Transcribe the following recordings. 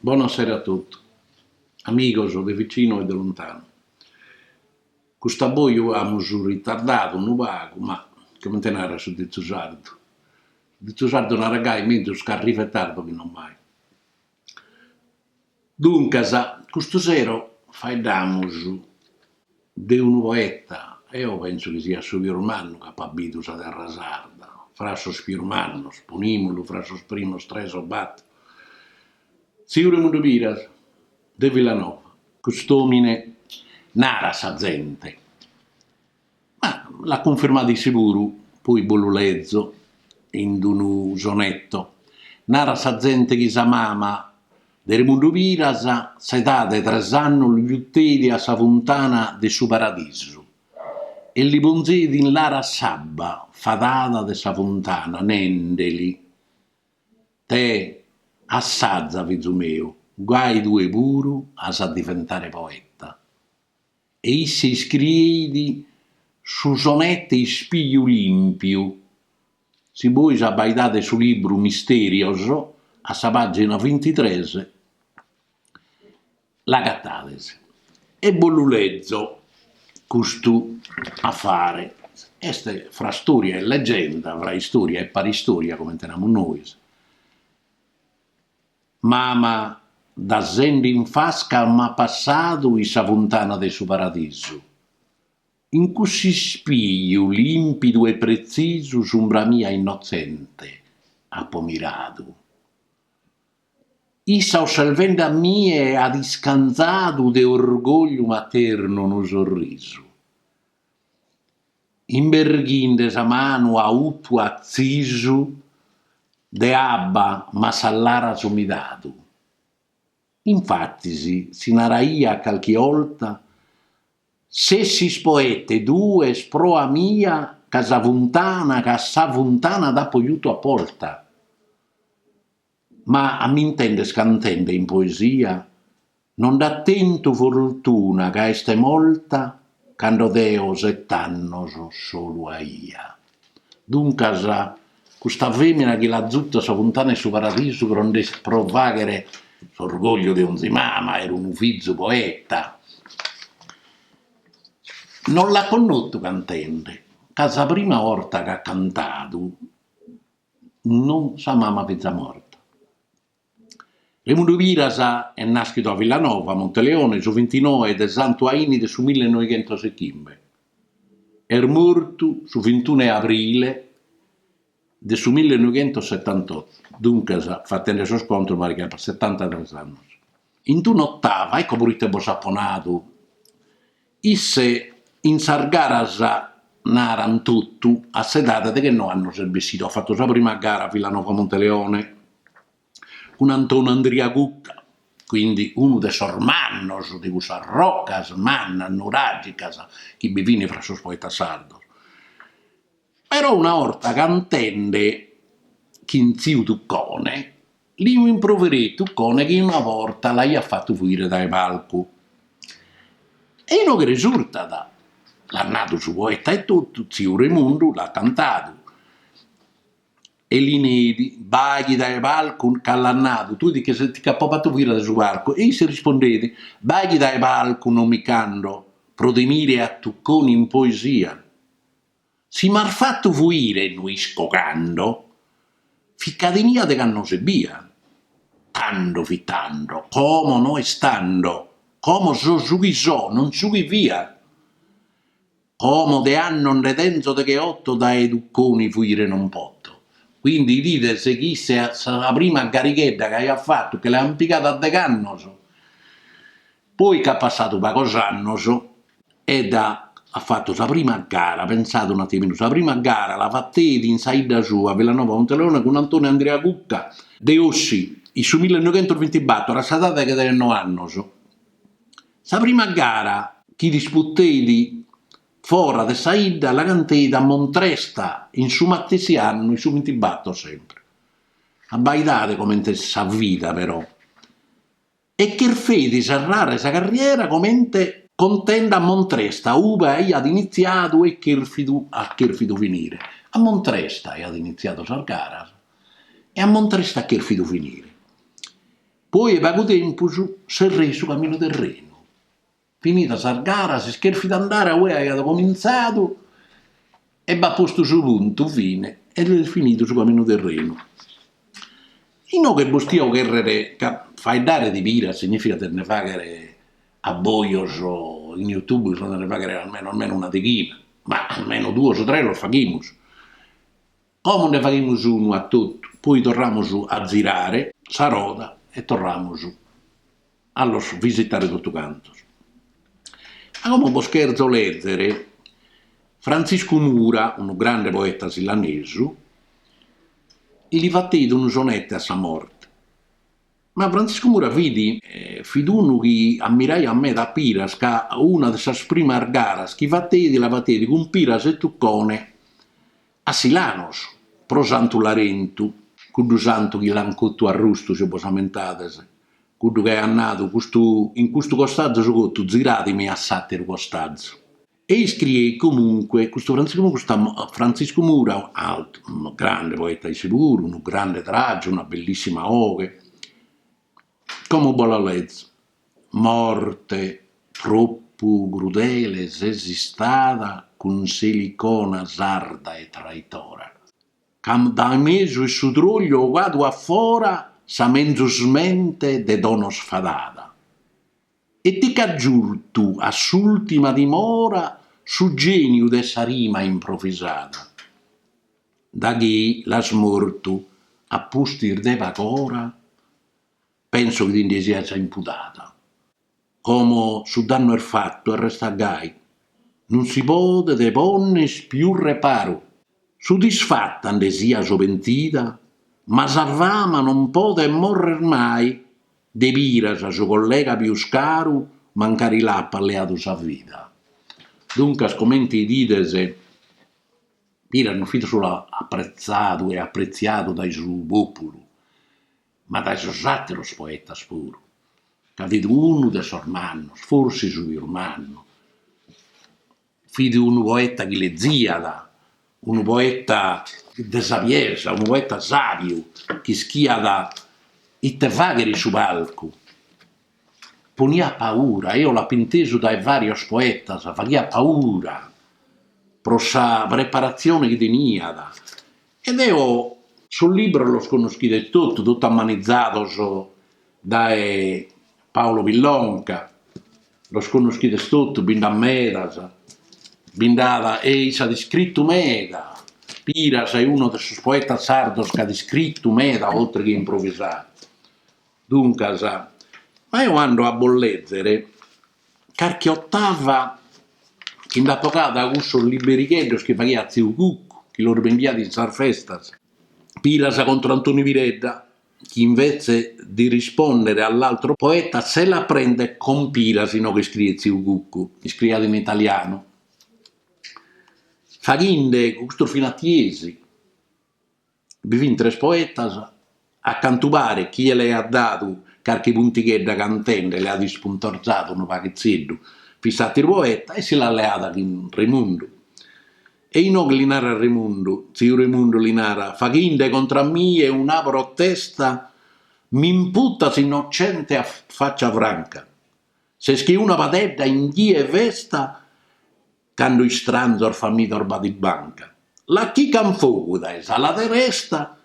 Bona sera a totu, amigos de vicinu e de lontanu. Cust'aboju amus ritardadu unu pagu ma comente narat su ditzu sardu, su ditzu sardu narat gai, menzus ch'arrivet tardu chi non mai. Duncas, custu sero faeddamus de unu poeta, eo penso chi siat su pius mannu chi apat bidu sa terra sarda, fra sos pius mannos, ponimulu fra sos primos tres o bator, tziu Remundu Piras de Villanova. Cust'omine narat sa zente. Ma l'at cunfirmadu isse puru, poi bos lu lezo in d'unu sonetto. Narat sa zente chi sa mama de Remundu Piras s'edade 'e tres annos lu jutteidi a sa funtana de su Paradisu e li ponzeidi in laras s'abba fadada de sa funtana nendeli, Tè, assaza, fizu meu, gai tue puru as a diventare poeta. E isse iscrieit su sonete Ispiju lìmpiu. Si bois abaidades su libru Mistèrios, a sa pàgina bintitres, l'acatades. E bos lu lezo custu afare. Est fra stòria e legenda, fra istòria e paristòria, comente namus nois. Mama da sende in fasca m'at passadu in sa funtana de su paradisu. In cuss'ispiju limpidu e pretzisu s'umbra mia innotzente apo miradu. Issa osservendi a mie at iscantzadu de orgogliu maternu unu sorrisu. Imberghinde sa manu a utu atzisu de abba m'at sas laras umidadu. Infatis si naraiat calchi 'olta, S'essis poete tue est proa mia ca sa funtana ca a sa funtana t'apo jutu aposta. Ma a m'intender cantende in poesia no nd'at tentu fortuna ca est molta cando deo set'annos solu aia. Duncas, custa femina chi l'at zutu a sa funtana 'e su paradisu pro nde pro faghere s'orgogliu de onzi mama, aer unu fizu poeta, no l'at connotu cantende, ca sa prima 'orta ch'at cantadu, Non sa mama fiza morta. Remundu Piras est nàschidu a Villanova Monteleone, su bintinoe de Santu Aine de su milli e noighentos e chimbe. Est mortu su bintunu 'e abrile de su milli e noighentos e setantotu, duncas, fatende sos contos, mancu setantatres annos. In d'un'otava, ecco prite bos apo nadu. Isse in sas garas naran totu a s'edade 'e dechennoe annos est bessidu, at fatu sa prima gara a Villanova Monteleone cun Antonu Andria Cucca, quindi unu de sos mannos de cussas rocas mannas nuragicas chi bi fin fra sos poetas sardos. Però una 'orta cantende chin tziu Tuccone, liu improvereit Tuccone chi una vorta l'aiat fattu fuire dae palcu. E inoghe resurtat, l'at nadu su poeta e totu, tziu Remundu l'at cantadu e li neit, Ba' chi dae palcu ca l'at nadu, tue ti che ti ch'apo fattu fuire dae su palcu e isse rispondeit, Ba' chi dae palcu non mi ch'ando, pro timire a Tuccone in poesia. Si m'as fatu fuire no isco cando, fit ca tenia dech'annos ebbia. Tando fit tando, como no est tando, como so su chi so, non su chi fia. Como de annos nde tenzo decheotto dae Tuccone fuire non poto. Quindi idides chi issa est sa prima garighedda chi aiat fatu, che l'an pigadu a dech'annos, Poi ca at passadu pagos annos ed at fatu sa prima gara, pentzade un atiminu, sa prima gara la fateit in sa 'idda sua, Villanova Monteleone, cun Antonio Andrea Cucca de Ossi, in su millenoighentosvintibator, a s'edade 'e dechennoe annos. Sa prima gara chi disputeit fora de sa 'idda la canteit a Montresta in su matessi annu, in su vintibator sempre. Abbaidade comente est sa vida però. e cherfeit serrare sa carriera comente cantende a Montresta ube aiat initziadu e cherfidu at cherfidu finire. A Montresta aiat initziadu sas garas e a Montresta at cherfidu finire. Poi 'e pagu tempus serreit su caminu terrenu. Finidas sas garas, isse cherfeit andare a ue aiat comintzadu e b'at postu su puntu fine ed est finidu su caminu terrenu. Inoghe bos tio cherrere ca faeddare de Piras significat de nde faghere abbojos in YouTube bi sun de nde faghere almeno almeno una deghina, ma almeno duos tres los faghimus. Como nde faghimus unu a totu, poi torramus a zirare sa roda e torramus a los visitare totu cantos. Ma como bos cherzo lezere, Frantziscu Mura, unu grande poeta silanesu, li fateit unu sonete a sa morte. Ma Frantziscu Mura fit fit unu chi ammiraiat meda a Piras ca una de sas primas garas chi fateit la fateit cun Piras e Tuccone A Silanos, pro Santu Larentu, cuddu santu chi l'ant cotu arrustu, si bos ammentades, cuddu chi aiat nadu, custu in custu costazu so cotu, ziradimi a s'ateru costazu. E iscrieit comunque custu Frantziscu Mura, custu Frantziscu Mura, ateru grande poeta issu puru, unu grande tragiu, una bellissima 'oghe. Como bo' la lezo. Morte tropu crudele ses istada cun s'Elicona sarda e traitora, c'as dae mesu 'e su trogliu ogadu a fora sa menzus mente de donos fadada, e ti c'as giutu a s'ultima dimora su geniu de sa rima improvisada. Da chi l'as mortu a pustis de pag'ora, penso chi ti nde sias impudada. Como su dannu est fatu e restat gai, non si podet ponner pius reparu. Sodisfata nde sias o pentida, ma sa fama non podet morrer mai, de Piras su collega pius caru mancari l'apat leadu sa vida. Duncas comente 'idides. Piras non fit solu apretzadu e apretziadu dae su pòpulu, ma dae sos àteros poetas puru, ca fit unu de sos mannos, forsis su pius mannu, fit unu poeta chi leziat, unu poeta de sabiesa, unu poeta sàbiu, chi ischiat ite fàghere in su palcu Poniat paura, eo l'apo intesu dae varios poetas, faghiat paura pro sa preparatzione chi teniat. E deo sos libros los connoschides totu, totu ammanizados dae Paolo Pillonca, los connoschides totu, bi nd'at medas, bi nd'at e issu at iscritu meda, Piras est unu de sos poetas sardos chi at iscritu meda oltre che improvisadu. Duncas, ma eo ando a bos lèzere carchi otava chi nd'apo bogada dae cussos liberigheddos chi faghiat tziu Cuccu, chi los bendiat in sas festas. Piras contro Antonio Piredda, che invece di rispondere all'altro poeta se la prende con Piras inoghe iscriet tziu Cuccu, iscriat in italianu, faghinde custos finatiesi Bi fin tres poetas, a cantu paret, chie l'aiat dadu carchi puntighedda cantende l'aiat ispuntorzadu unu paghitzeddu, fit s'àteru poeta e si l'at leada chin Remundu. E inoghe li narat Remundu, tziu Remundu li narat, faghinde contra a mie una protesta, m'imputas innocente a faccia franca, ses che una padedda in die 'e festa Cando istranzos famidos b'at in banca. L'achican fogu dae s'ala deresta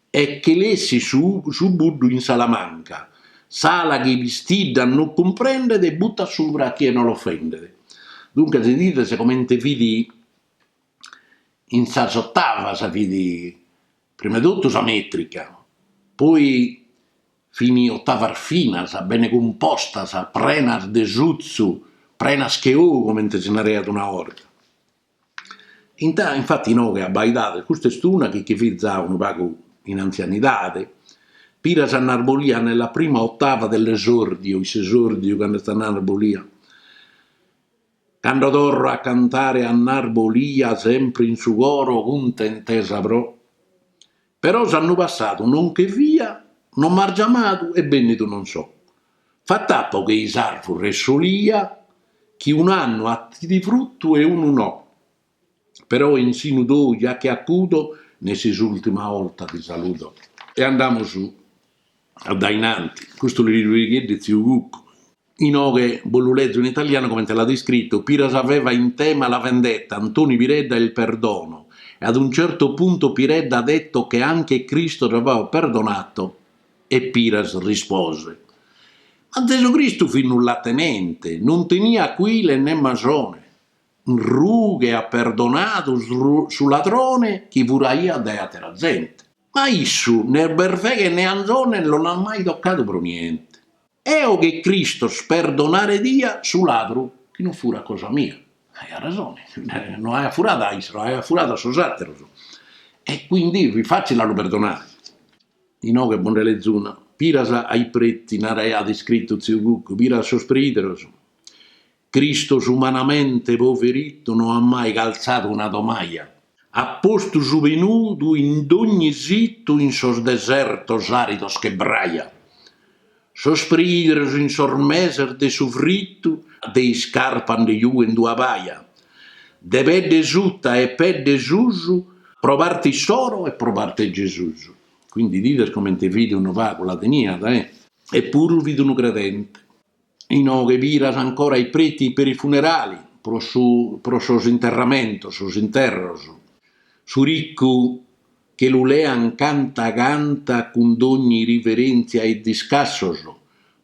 e che l'essit su buddu in s'ala manca. S'ala chi pistiddat no cumprendet e buttat subra a chie no l'ofendet. Duncas bidides comente fit in sas ottavas fit prima 'e totu sa metrica, poi. Fin otavas finas, bene cumpostas, prenas de sutzu, prenas che ou, comente si naraiat una 'orta. Infati inoghe abbaidades, custa est una chi chi fit già unu pagu in anzianidade, Piras a Narbolia nella prima ottava dell'esordio, in s'esordiu cando est a Narbolia, Cando torro a cantare a Narbolia sempre in su coro cuntentesa pro. Però s'annu passadu no nche fia no m'as giamadu e bennidu non so. Fatt'apo che i s'arvure 'e s'olia chi un'annu 'attit fruttu e unu no. Però in sinu tou ja chi acudo nessi s'ultima 'olta ti saludo. E andamus addainanti. Custu liberigheddu 'e tziu Cucu. Inoghe bos lu lezo in italianu comente l'at iscritu Piras aveva in tema la vendetta, Antoni Piredda il perdono e ad un certo punto Piredda ha detto che anche Cristo aveva perdonato e Piras rispose Ma Zesu Cristu fit nullatenente, non teniat cuile né masone, in rughe at perdonadu su ladrone chi furaiat dae atera zente. Ma a issu né berveghe né anzone no l'at mai toccadu pro niente. Eo che Cristos perdonare dia su ladru chi no furat cosa mia. Aiat resone, no aiat furadu a issu, aiat furadu a sos àteros e quindi fit fàtzile a lu perdonare. Inoghe bo' nde lezo una, Piras ai preti naraiat iscritu tziu Cucu, Piras a sos preìderos, Cristos umanamente poverittu no at mai calzadu una tomaja. At postu su pe nudu in dogni sittu in sos desertos aridos che braja. Sos prideros in sos meses de su frittu de iscarpa nde jughen dua paja. De pedde sutta e pedde susu pro parte issoro e pro parte 'e Gesusu. Quindi 'idides comente fit unu pagu la teniat e. E puru fit unu credente. Inoghe Piras ancora i preti per i funerali, pro su pro sos interramentos, sos interros. Su riccu che lu lean canta canta cun dogni riverenzia e discassos.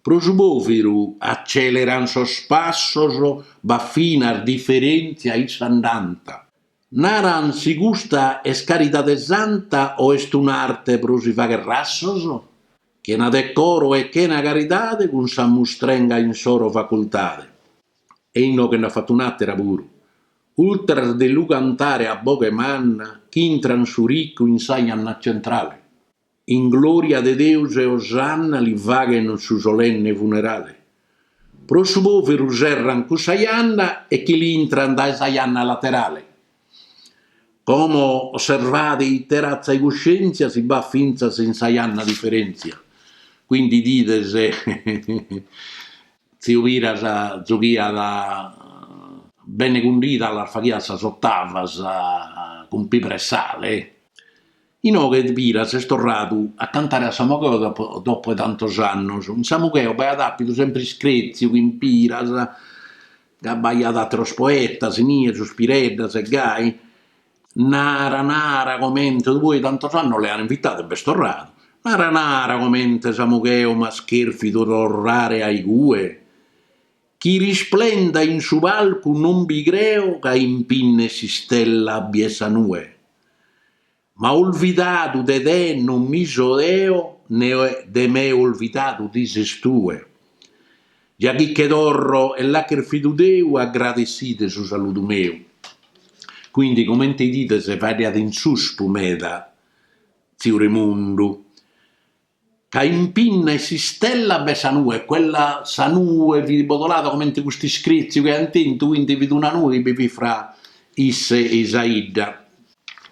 Pro su poviru acceleran sos passos b'at finas differenzia in s'andanta. Naran si custa est caridade santa o est un'arte pro si fagher rassos? Chena decoro e chena caridade cun sa mustrenga insoro facultade e inoghe nd'at fatu un'àtera puru, ultras de lu cantare a boghe manna ch'intran su ricu in sa janna centrale, in glòria de Deus e osanna li faghen su solenne funerale, pro su pòveru serran cussa janna e che l'intran dae sa janna laterale. Como osservade ite ratza 'e cuscientzia si b'at fintzas in sa janna diferentzia. Quindi 'idides tziu Piras jughiat bene cundidas las faghiat sas ottavas cun pìbere e sale. Inoghe Piras est torradu a cantare a Samugheo dopo dopo 'e tantos annos. In Samugheo b'aiat àpidu sempre iscrètziu chin Piras, ca b'aiat àteros poetas inie, sos Pireddas e gai. Nara nara comente poi tantos annos l'an invitadu e b'est torradu. Nara nara comente Samugheo m'as chèrfidu torrare a igue. Chi risplenda in su palcu non bi creo ca impinn'e s'istella bi est sa nue. Ma olvidadu de te non mi so deo ne de me olvidadu ti ses tue. Già chi che torro e l'at chèrfidu Deu agradessite su saludu meu. Quindi comente 'idides faeddat in suspu meda tziu Remundu. ca impinna 'e s'istella b'est sa nue, quella sa nue fit bodolada comente custu iscrètziu chi ant tentu, quindi fit una nue chi bi fit fra isse e sa 'idda.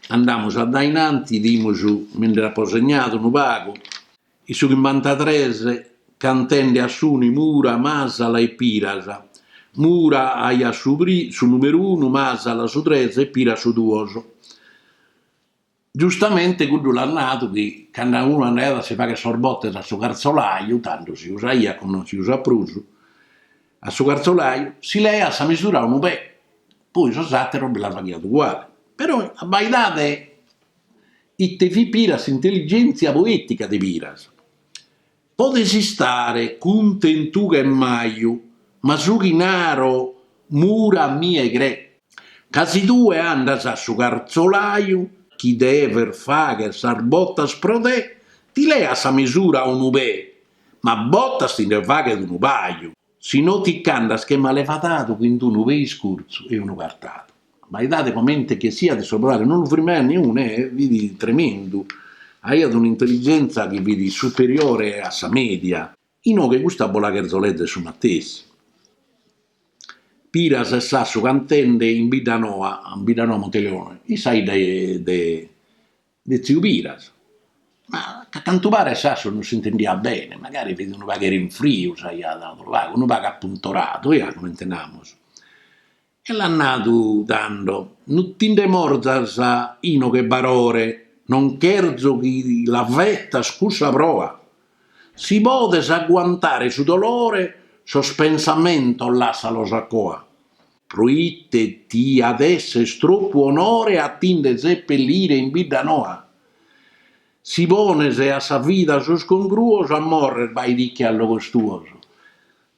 Andamus a dainanti, 'idimus, mi nd'apo segnadu unu pagu, in su chimbantatres cantende a Suni Mura, Masala e Piras, Mura aiat su pri, su numeru unu, Masala su tres e Piras su duos. Giustamente cuddu l'at nadu chi cando unu andaiat a si fagher sos botes a su carzolaju, tando si usaiat como non si usat prus, a su carzolaju, si leaiat sa misura a unu pè, poi sos àteros bi la faghiat uguale. Però abbaidade ite fit Piras s'intelligèntzia poètica de Piras. Podes istare cuntentu ca est maju, ma su chi naro Mura a mie crè. Ca si tue andas a su cartzolaju chi deves fagher sas botas pro te, ti leat sa misura a unu pè, ma botas ti nde faghet unu paju. Si no ti ch'andas che malevadadu chin unu pè iscurtzu e unu cartadu. Abbaidade comente che siat sa bobada non lu firmaiat niunu e fit tremendu. Aiat un'intelligenza chi fit superiore a sa media. Inoghe custa bos la cherzo lèzere su matessi. Piras e Sassu cantende in Biddanoa, Biddanoa Monteleone, in sa 'idda de de tziu Piras, ma a cantu paret Sassu non s'intendiat bene, magari fit unu pagheddu in friu, s'aiat dadu pagu, unu pagu apuntoradu, oià, comente namus, e l'at nadu tando, No ti ndi morzas inoghe Barore, non cherzo chi la fetas cussa proa. Si podes aguantare su dolore, sos pensamentos lassalos a coa. Proite ti at esser tropu onore a ti nde sepellire in Biddanoa? Si pones a sa vida sos congruos a morrer baitiche a logos tuos.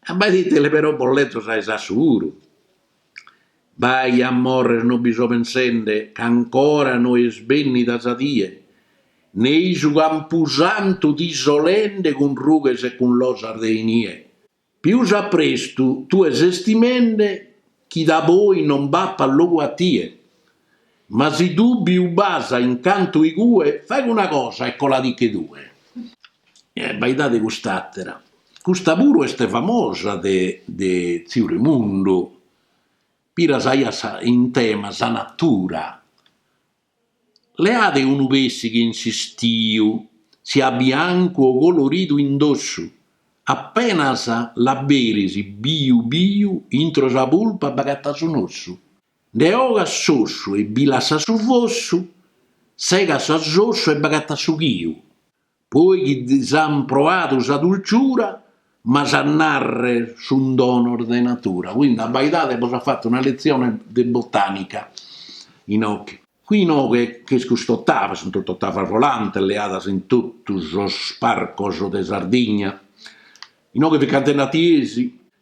Abbaidade però bos lezo sa 'e Sassu puru. Bai, a morrer no bi so pensende ca ancora no est bennida sa die, nei su campusantu ti so lende cun rughes e cun losas de inie. Pius a prestu tue ses timende chi daboi non b'apat logu a tie. Ma si dùbiu b'as in cantu igue, faghe una cosa e colatiche tue. Abbaidade cust'àtera. Custa puru est famosa de de tziu Remundu, Piras aiat sa in tema sa natura. Leade unu pèssighe in s'istiu siat biancu o coloridu in dossu, apenas l'aberis biu biu intro sa pulpa b'agatas un'ossu. Nde 'ogas s'ossu e bi lassas su fossu, segas s'ossu e b'agatas su chiu. Poi chi s'an proadu sa dulciura, m'as a narrer sun donos de natura. Quindi abbaidade bos at fatu una letzione de botanica inoghe. Qui inoghe ch'est custa otava, sunt totu otavas volantes leadas in totu sos parcos de Sardigna, inoghe fit cantende a Tiesi,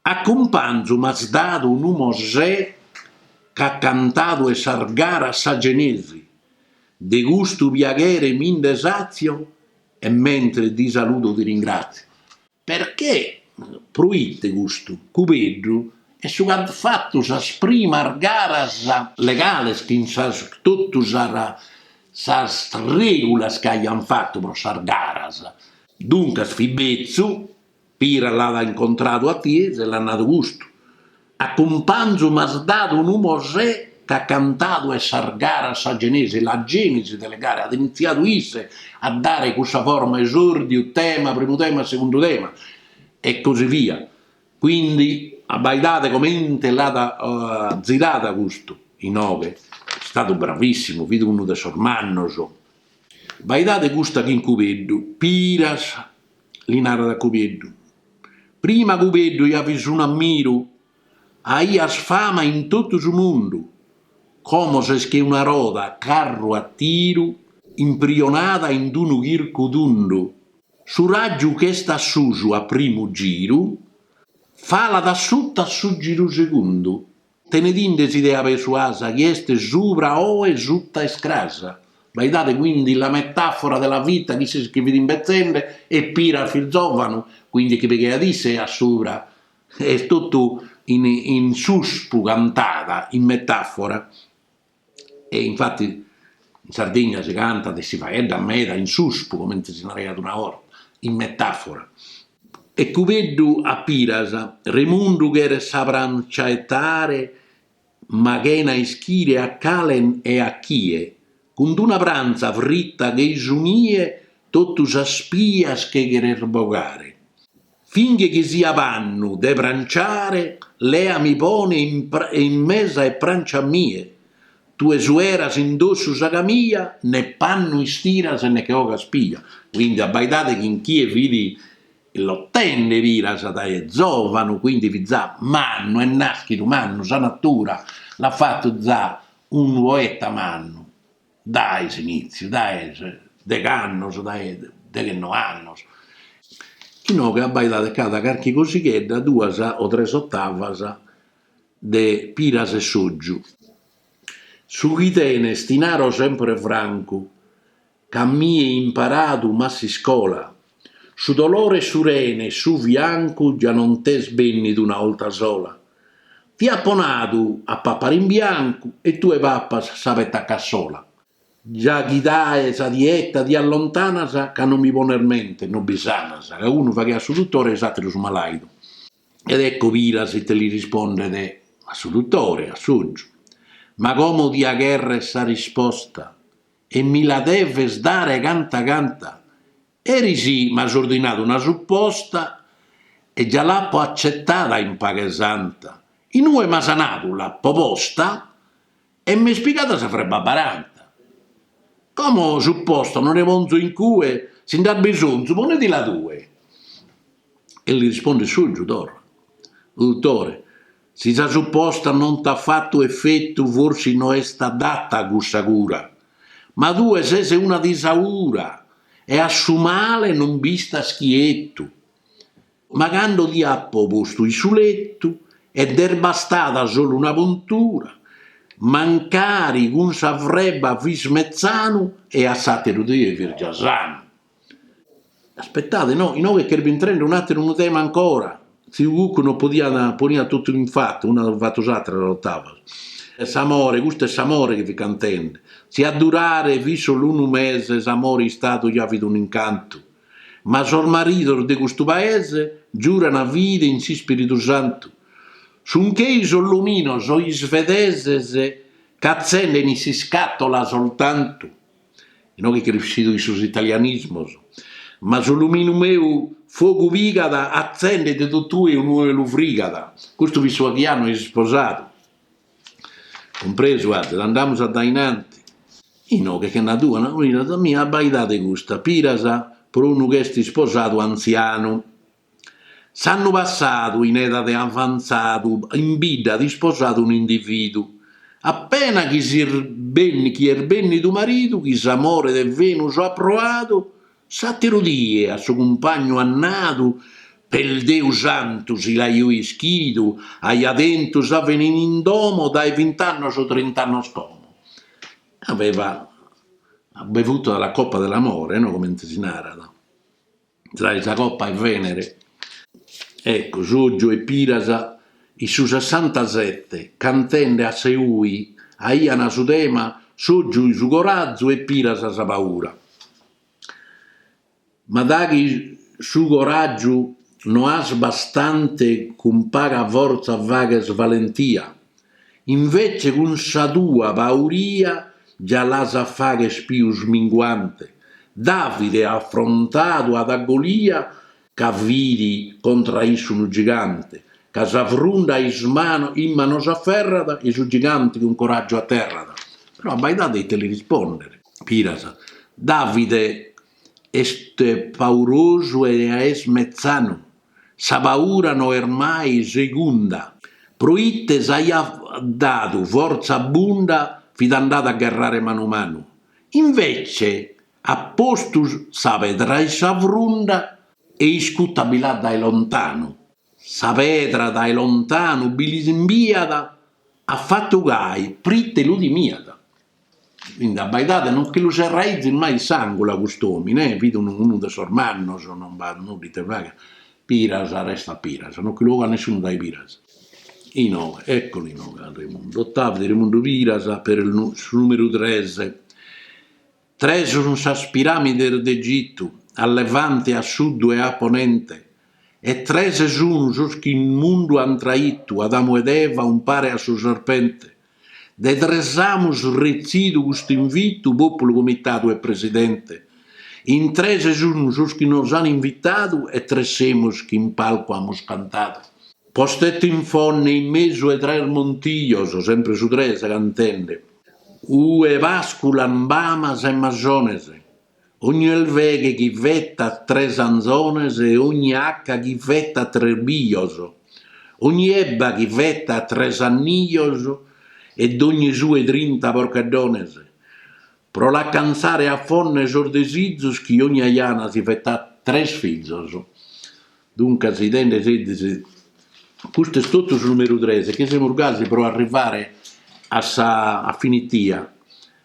A cumpanzu m'as dadu unu Mosè ch'at cantadu 'e sas garas sa genesi, de custu piaghere mi nde satzio e mentres ti saludo ti ringratzio. Perchè proite custu Cubeddu est su ch'at fatu sas primas garas. Legales chin sas totu sas regulas ch'aian fatu pro sas garas. Duncas fit betzu Pira l'at incontradu a Tiesi e l'at nadu custu, A cumpanzu m'as dadu unu Mosè ch'at cantadu 'e sas garas sa genesi, la genesi delle gare, at initziadu isse a dare cussa forma esòrdiu, tema, primu tema, segundu tema, e così via. Quindi abbaidade comente l'at zirada custu, inoghe est istadu bravissimu, fit unu de sos mannos. Abbaidade custa chin Cubeddu, Piras li narat a Cubeddu. Prima Cubeddu ja fis un'ammiru, aias fama in totu su mundu, como ses che una roda 'e carru a tiru imprionada in d-unu chircu tundu, su ràgiu ch'est a susu a primu giru, falat a suta a su giru segundu. Tenedinde s'idea persuasa chie est subra oe suta est crasa, abbaidade quindi la metafora della vita chi si che fit imbetzende e Pira fit zòvanu, quindi chi pigheat isse a subra, est totu in suspu cantada in metàfora. E infati in Sardigna si cantat e si faeddat meda in suspu, comente si naraiat una 'orta, in metàfora. E Cubeddu a Piras, Remundu cheret sa prancia 'etare ma chena ischire a cale e a chie, cun d-una pranza fritta che i su nie totu sas pias che cheret bogare. Finghe chi sia pannu de pranciare leami pone in mesa e prancia a mie tue sueras in dossu sa camia ne pannu istiras ne che 'ogas pia. Quindi abbaidade chin chie fit lottende Piras dae zovanu quindi fit za mannu est naschidu mannu sa natura l'at fattu za unu poeta mannu. Dae s'inìtziu, dae degh'annos, dae deghennoe annos. Inoghe abbaidade ch'at carchi cosighedda, duas o tres ottavas de Piras e Sotgiu. Su chi tenes ti naro sempre francu ca a mie imparadu m'at s'iscola Su dolore 'e su rene e su fiancu già non t'est bennidu una 'olta sola. Ti apo nadu a papare in biancu e tue papas sa petta a cassola. Già chi dae sa dieta ti allontanas ca non mi pones mente, non bi sanas, ca unu faghiat su duttore e s'ateru su malaidu. Ed ecco Piras ite li rispondet a su duttore, a Sotgiu, ma como tia cherrer sa risposta, e mi la deves dare canta canta, erisi m'as ordinadu una suposta e già l'apo accetada in paghe santa, in ue m'as nadu l'apo posta e m'est pigada sa freba baranta. Como suposta non nde ponzo in cue, si nd'as bisonzu ponedila tue. E li rispondet Sotgiu torra, Dutore, Si sa supposta non t'at fatu efetu forsis no est adata cussa cura, ma tue ses una disaura e a su male non b'istas chietu. Ma cando ti apo postu in su letu e nd'est bastada solu una puntura, mancari cun sa freba fis metzanu e a s'àteru die fis già sanu. Aspettade, no, inoghe ch'est bintrende un'ateru unu tema ancora, tziu Cuccu no podiat, poniat totu in fatu, una de fatu s'atera s'otava. S'amore, custu est s'amore chi fit cantende, si a durare fit solu unu mese s'amore istadu già fit un'incantu, ma sos maridos de custu paese giurana fide in s'ispiridu santu, sun chei sos luminos isvedeses ch'atzenden in s'iscatola soltantu. inoghe crescidu in sos italianismos, ma su luminu meu fogu pigat atzendet totue inue lu frigat, custu fit su aghianu e s'isposadu, cumpresu azis, andamus addainanti. Inoghe che na dua, na cunina sa mia abbaidade custa, Piras pro unu ch'est isposadu antzianu. S'annu passadu, in edade avantzadu, in bidda at isposadu un'individu. Appena chi s'est benni chi est bennidu maridu, chi s'amore de Venus at proadu, s'ateru die a su cumpagnu at nadu, Per Deu santu, si l'aio ischidu, aia tentu sa Venere in domo dae bint'annos o trint'annos como. Aveva bevuto a la coppa dell'amore, no, comente si narat. tra sa copa 'e Venere, ecco Sotgiu e Piras in su sessantasette cantende a Seui aiana su tema Sotgiu su corazu e Piras sa paura, ma daghi su coragiu no has bastante cun paga forza faghes valentia. Invece cun sa tua pauria già l'as a fagher pius minguante. Davide afrontadu at a Golia ca fit contra a issu unu gigante, ca sa frunda is manos in manos aferrat e i su gigante cun coraggiu aterrat. Però abbaidade ite li rispondet Piras. Davide est paurosu e est mezzanu. Sa paura no est mai segunda. Pro ite s'aiat dadu fortza abbunda fit andadu a gherrare manu manu. Invece at postu sa pedra in sa frunda e iscuta bi l'at dae lontanu. Sa pedra dae lontanu bi l'imbiat, at fatu gai prite lu timiat. Quindi abbaidade, non che lu serraizis mai in s'angulu a cust'omine, eh, fit unu unu de sos mannos, non b'at nudda ite fagher, Piras restat Piras, non che lu bogat nessunu dae Piras. Inoghe, eccolo inoghe a Remundu, ottava de Remundu Piras per il nu su numeru tres. Tres sun sas piramides de Egitu, a levante, a suddu e a ponente, e tres sunu sos chi in mundu an traitu Adamu ed Eva umpare a su serpente, De tres amus retzidu custu invitu, pòpulu, comitadu e presidente. In tres sun sos chi nos an invitadu e tres semus chi in palcu amus cantadu. Postetti in Fonne in mesu 'e tres montijos, sempre su tres cantende. Ue pasculan bamas e masones. Ogni elveghe chi fetat tres anzones e ogni acca chi fetat tres bijos, ogni ebba chi fetat tres annijos e dogni sue trinta porcheddones, pro l'acantzare a Fonne sos desizos chi ogni ajana si fetat tres fizos. Duncas intendide, custu est totu su numeru tres chi semus gasi pro arrivare a sa a finitia,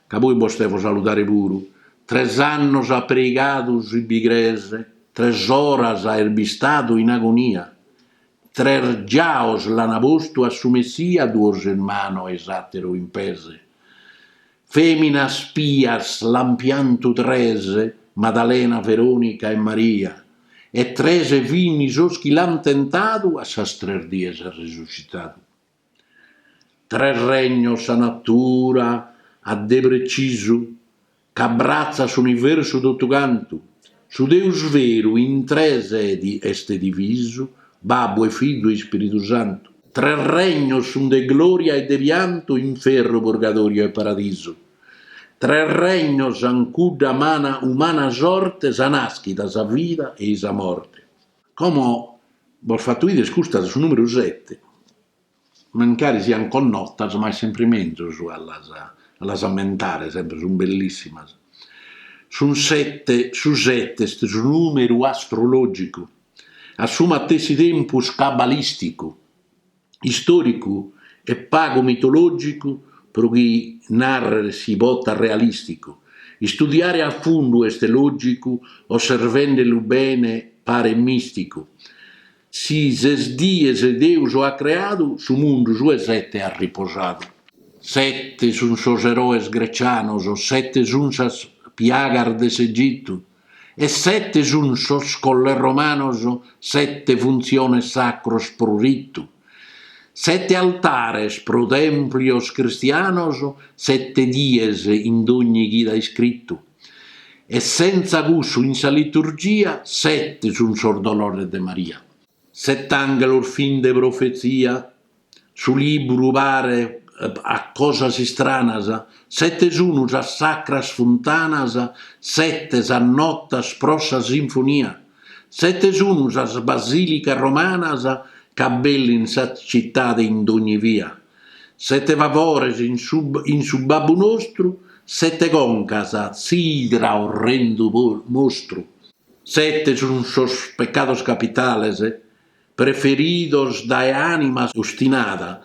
ca poi bos devo saludare puru, tres annos at preigadu si bi crees, tres oras est bistadu in agonia, tres giaos l'ana postu a su Messia duos in manos e i s'ateru in pes. Feminas pias l'an piantu tres, Madalena, Veronica e Maria, e tres fini sos chi l'an tentadu a sas tres dies at resuscitadu. Tres regnos sa natura at de precisu, ch'abbratzat s'universu totu cantu, Su Deus veru in tres edi est divisu, Babbu e Fizu e Ispiridu Santu. Tres regnos sun de gloria e de piantu, inferru, purgadoriu e paradisu. Tres regnos an cudda mana umana sorte, sa naschida, sa vida e i sa morte. Como bos fatto 'ider custa de su numeru sete. Mancari siant connotas, ma est sempre menzus a las a las ammentare, sempre sunt bellissimas. Sun sette, su sette est su numeru astrologicu, a su matessi tempus cabalisticu, istoricu e pagu mitologicu pro chi narrere si potat realisticu. Istudiare a fundu est logicu, osservendelu bene paret misticu. Si ses dies Deus at creadu, su mundu su 'e sete at riposadu. Sete sun sos eroes grecianos, sete sun sas piagas de s'Egitu, e sete sun sos colles romanos, sete funtziones sacros pro ritu, sete altares pro tèmplios cristianos, sete dies in dogni chida iscritu. E sentza cussu in sa liturgia sete sun sos dolores de Maria. Set'àngelos fin de profezia, su libru paret a cosas istranas, sete sun sas sacras funtanas, sete sas notas pro sa sinfonia, sete sun sas basilicas romanas ch'abbellin sa citade in dogni via, Sete favores in su babbu nostru, sete concas s'idra orrendu mostru. Sete sun sos peccados capitales preferidos dae anima ostinada,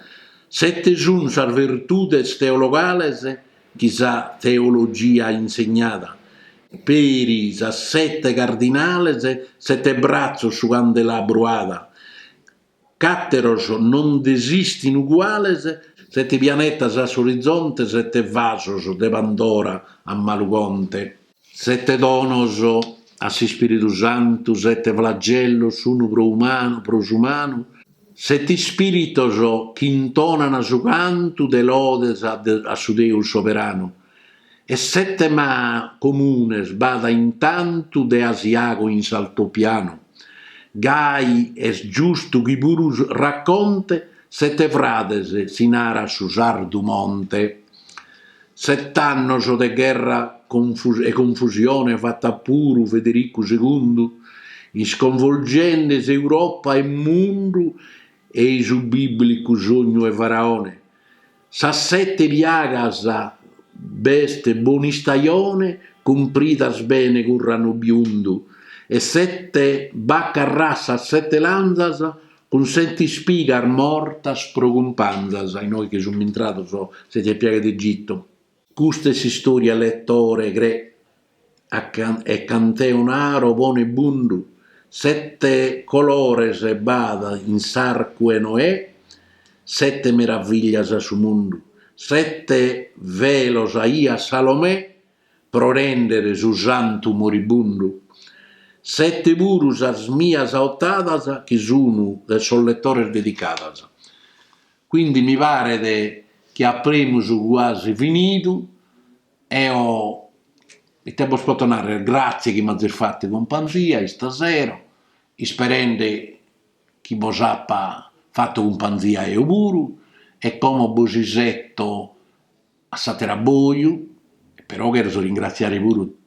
sete sun sas vertudes teologales chi sa teologia insegnada, peri sas sete cardinales sete bratzos su candelabru ada, Ch'àteros non nd'esistin uguales, sete pianetas a s'orizonte, sete vasos de Pandora a malu conte. Sete donos a s'Ispìritu Santu, sete flagellos sunu pro umanu, pro s'umanu, sete ispìritos chi intonan su cantu de lodes a su Deus soberanu, E sete mah comunes b'at intantu de Asiago in s'altopianu, gai est giustu chi puru raconte sete frades si narat su sardu monte. Set'annos de gherra e confusione fat'at puru Federicu segundu, isconvolgende s'Europa e mundu ei su biblicu sognu 'e Faraone, Sas sete piagas b'est bon'istajone cumpridas bene cun ranu biundu e sete bacas rassas sete lanzas cun sete ispigas mortas pro cumpanzas innoi chi sun intrados sete piagas de Egitu. Custa est s'istòria letore cre e a cant'eo naro pone bundu sette colores b'at in s'arcu 'e Noè sette meraviglias at su mundu sette velos aiat Salomè pro rèndere su santu moribundu sette puru sas mias ottadas chi sunu de sos letores dedicadas. Quindi mi paret chi apremus cuasi finidu, eo ite bos poto narrer, gratzie chi m'azis fatu cumpanzia istasera, isperende chi bos apa fatu cumpanzia eo puru, e como bos iseto a s'ater'abboiu, però cherzo ringraziare puru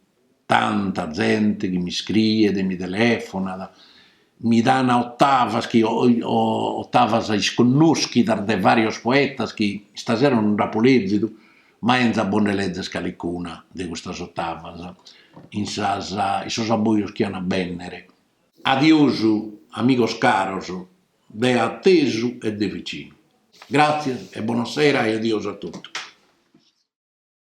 tanta zente chi mi scriet, mi telefonat, mi dan ottavas chi ottavas isconnoschidas de varios poetas chi istasera no nd'apo lezidu, ma enzo a bos nde lezere calicuna de custas ottavas in sas in sos abboios chi an a bennere. Adiosu amigos caros de atesu e de vicinu. Gràtzias e bona sera e adiosu a totu.